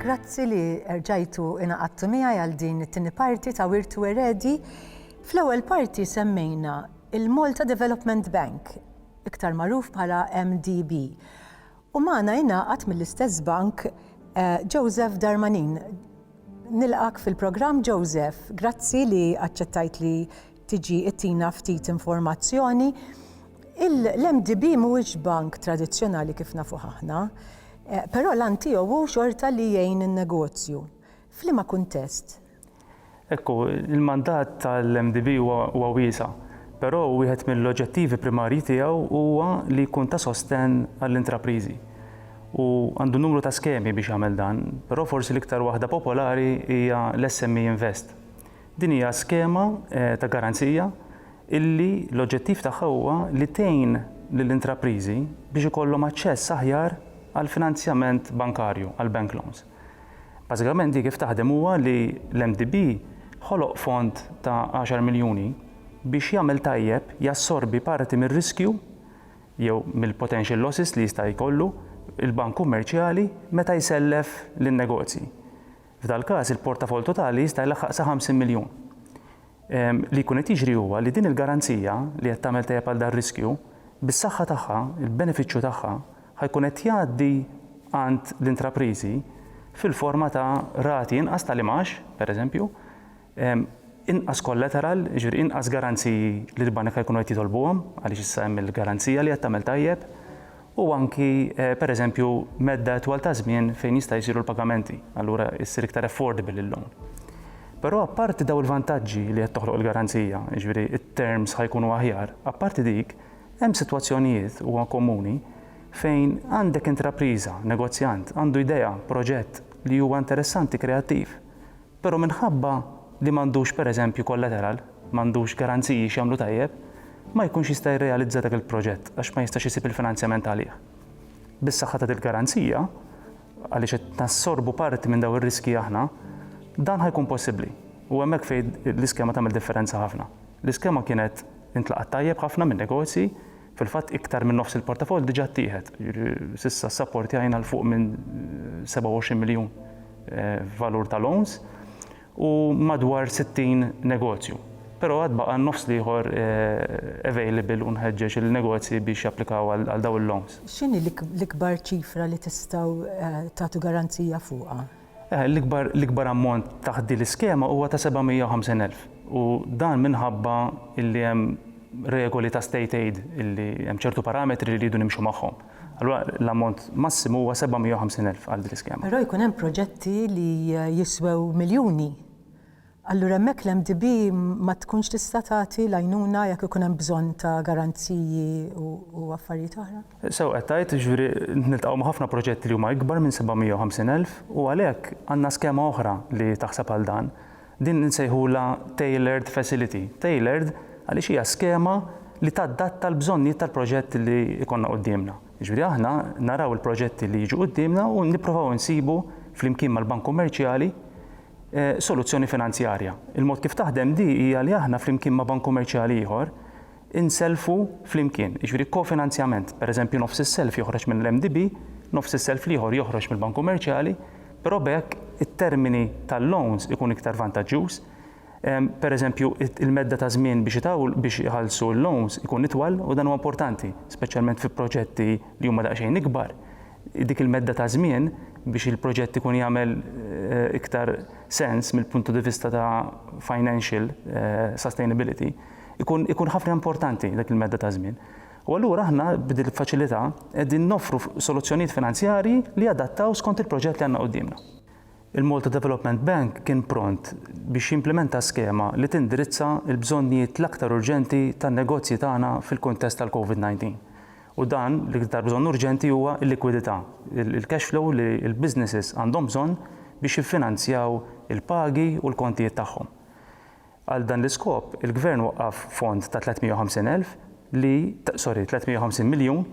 Grazzi li erġajtu inaqadtu miegħi għal din it-tieni parti ta' Wirtu Eredi. Fl-ewwel parti semmejna il-Malta Development Bank, iktar magħruf bħala MDB. U magħna jingħaqad mill-istess bank eh, Joseph Darmanin. Nilqak fil-programm Joseph, grazzi li aċċettajt li tiġi ittina ftit informazzjoni. L-MDB mhuwiex bank tradizzjonali kif nafu aħna, eh, però l-an tiegħu hu xorta li jgħin in-negozju. F'liema kuntest? Ekku, il-mandat tal-MDB huwa wiesa, però wieħed mill-oġġettivi primarji tiegħu huwa li jkun ta' sostenn għall-intrapriżi. U għandu numru ta' skemi biex jagħmel dan, però forsi l-iktar waħda popolari hija l-SME Invest. Din hija skema ta' garanzija illi l-oġġettiv tagħha huwa li tgħin lill-intrapriżi biex ikollhom aċċess aħjar għall-finanzjament bankarju, għall-bank loans. Bażikament di kif taħdem huwa li l-MDB ħoloq fond ta' għaxar miljuni biex jagħmel tajjeb, jassorbi parti mir-riskju jew mill-potential losses li jista' jkollu l-bank kummerċjali meta jsellef lin-negozji. F'dal-każ, il-portafoll totali jista' jlaħħaq sa 50 miljun. Li jkun qed jiġri huwa li din il-garanzija, li qed tagħmel tajjeb għal dar-riskju, bis-saħħa tagħha, il-benefiċċju tagħha, ħa jkun qed jgħaddi għand l-intrapriżi fil-forma ta' rati inqas tal-imgħax, pereżempju, inqas kollateral, jiġifieri inqas garanziji li l-banek ħa jkunu qed jitolbuhom għaliex issa hemm il-garanzija li qed tagħmel tajjeb u anki pereżempju medda itwal ta' żmien fejn jista' jsiru l-pagamenti, allura issir iktar affordable il-loan. Però apparti daw il-vantaġġi li qed toħloq il-garanzija, jiġifieri t-terms ħa jkunu aħjar, apparti dik, hemm sitwazzjonijiet, huwa komuni, fejn għandek intrapriża, negozjant, għandu idea, proġett li huwa interessanti, kreattiv, Però minħabba li m'għandux pereżempju kollateral, m'għandux garanziji x'jagħmlu tajjeb, ma jkunx jista' jirrealizza dak il-proġett għax ma jistax isib il-finanzjament għalih. Bis-saħħa ta' dil-garanzija, għaliex qed nassorbu parti minn dawn ir-riskji aħna, dan ħa jkun possibbli. U hemmhekk fejn l-iskema tagħmel differenza ħafna. L-iskema kienet intlaqgħet tajjeb ħafna min-negozji, Fil-fatt iktar minn nofs il-portafoll diġà ttieħed, jiġifieri s'issa ssaportjajna 'l fuq minn 27 miljun f'valur ta' loans u madwar 60 negozju. Però għad baqa' n-nofs l-ieħor available u nħeġġeġ il-negozji biex japplikaw għal dawn il-loans. X'inhi l-ikbar ċifra li tistgħu tagħtu garanzija fuqha? L-ikbar ammont taħt din l-iskema huwa ta' 750 elf u dan minħabba li hemm regoli ta' state aid li hemm ċertu parametri li rridu nimxu magħhom. Allura l-ammont massimu huwa 750 elf għal din l-iskema. Però jkun hemm proġetti li jiswew miljuni. Allura hemmhekk l-MDB ma tkunx tista' tagħti l-għajnuna jekk ikun hemm bżonn ta' garanziji u affarijiet oħra? Sew qed tgħid, jiġifieri niltaqgħu ma' ħafna proġetti li huma ikbar minn 750,000 u għalhekk għandna skema oħra li taħseb għal dan. Din insejħulha tailored facility. Tailored għaliex hija skema li tadatta l-bżonnijiet tal-proġett li jkollna quddiemna. Jiġifieri aħna naraw il-proġetti li jiġu quddiemna u nipprovaw insibu flimkien mal-Bank Kummerċjali soluzzjoni finanzjarja. Il-mod kif taħdem di hija li aħna flimkien ma' bank kummerċjali ieħor insellfu flimkien, jiġifieri kofinanzjament. Pereżempju nofs is-self joħroġ mill-MDB, nofs is-self l-ieħor joħroġ mill-bank kummerċjali, però b'hekk it-termini tal-loans ikun iktar vantaġġjuż. Pereżempju il-medda ta' żmien biex itawwlu biex iħallsu l-loans ikun itwal u dan huwa importanti, speċjalment fi proġetti li huma daqsxejn ikbar. dik il-medda ta' żmien biex il-proġett ikun jagħmel iktar sens mill-puntu di vista ta' financial sustainability, ikun ikun ħafna importanti dik il-medda ta' żmien. U allura aħna b'dil faċilità qegħdin noffru soluzzjonijiet finanzjarji li jadattaw skont il-proġett li għandna quddiemna. Il-Malta Development Bank kien pront biex jimplimenta skema li tindirizza l-bżonnijiet l-aktar urġenti tan-negozji tagħna fil-kuntest tal-COVID-19. U dan, l-iktar bżonn urġenti huwa l-likwidità, il-cash flow li l-businesses għandhom bżonn biex jiffinanzjaw il-pagi u l-kontijiet tagħhom. Għal dan l-iskop, il-Gvern waqqaf fond ta' 350 elf li, sorry, 350 miljun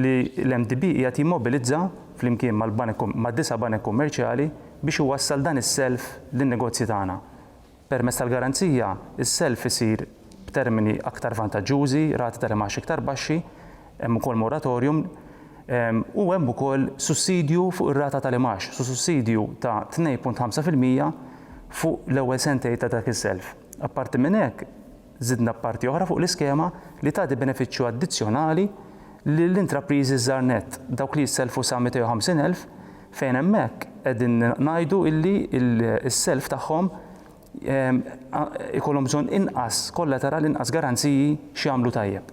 li l-MDB qiegħed jimmobilizza flimkien mal-banek, mad-disa' banek kummerċjali biex iwassal dan is-self lin-negozji tagħna. Permezz tal-garanzija, is-self isir b'termini aktar vantaġġużi, rati tal-imgħax iktar baxxi, hemm ukoll moratorium, u hemm ukoll sussidju fuq ir-rata tal-imgħax, sussidju ta' 2.5 fil-mija fuq l-ewwel sentejn ta' dak is-self. Apparti minn hekk, Żidna parti oħra fuq l-iskema li tagħti benefiċċju addizzjonali lill-intrapriżi żgħar nett, dawk li jissellfu sa 250 elf, fejn hemmhekk qegħdin ngħidu illi s-self tagħhom ikollhom bżonn inqas kollateral, inqas garanziji x'jagħmlu tajjeb.